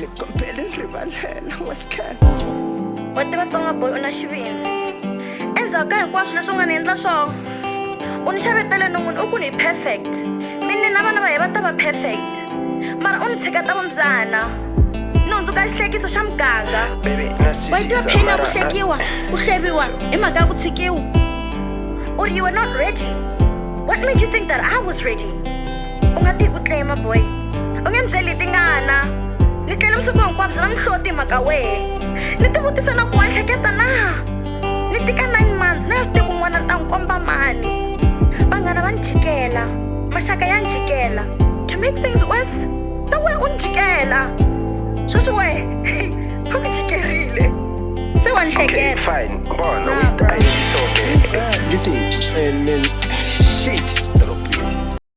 ni kombele ni rivalela n'wasikhela wa tiva tsonga boy u na xivindzi endzhaku ka hinkwaswo leswi u nga ni endla swona u ni xavetele non'wini u ku ni hi perfect mi ni na vana va hi va ta va perfect mara u ni tshiketa vumbyana ni hundzuka xihlekiso xa muganga wa yi tiva pheni ya ku hlekiwa ku hleviwa hi mhaka ya ku tshikiwa or you were not ready what made you think that i was ready U nga ti hi ku tlema boy U nge ni byeli hi tingana Ni tlele vusiku hinkwabyo na mihloti hi mhaka wehe Ni ti vutisa na ku wa hleketa na Ni tika nine months na ya swi tiku n'wana ni ta n'wi komba mani Vanghana va ni jikela Maxaka ya ni jikela To make things worse Na wehe u ni jikela Sweswi wehe U ni jikerile Se wa ni hleketa Fine, bona u yi ta hi soke. Listen, and then shit.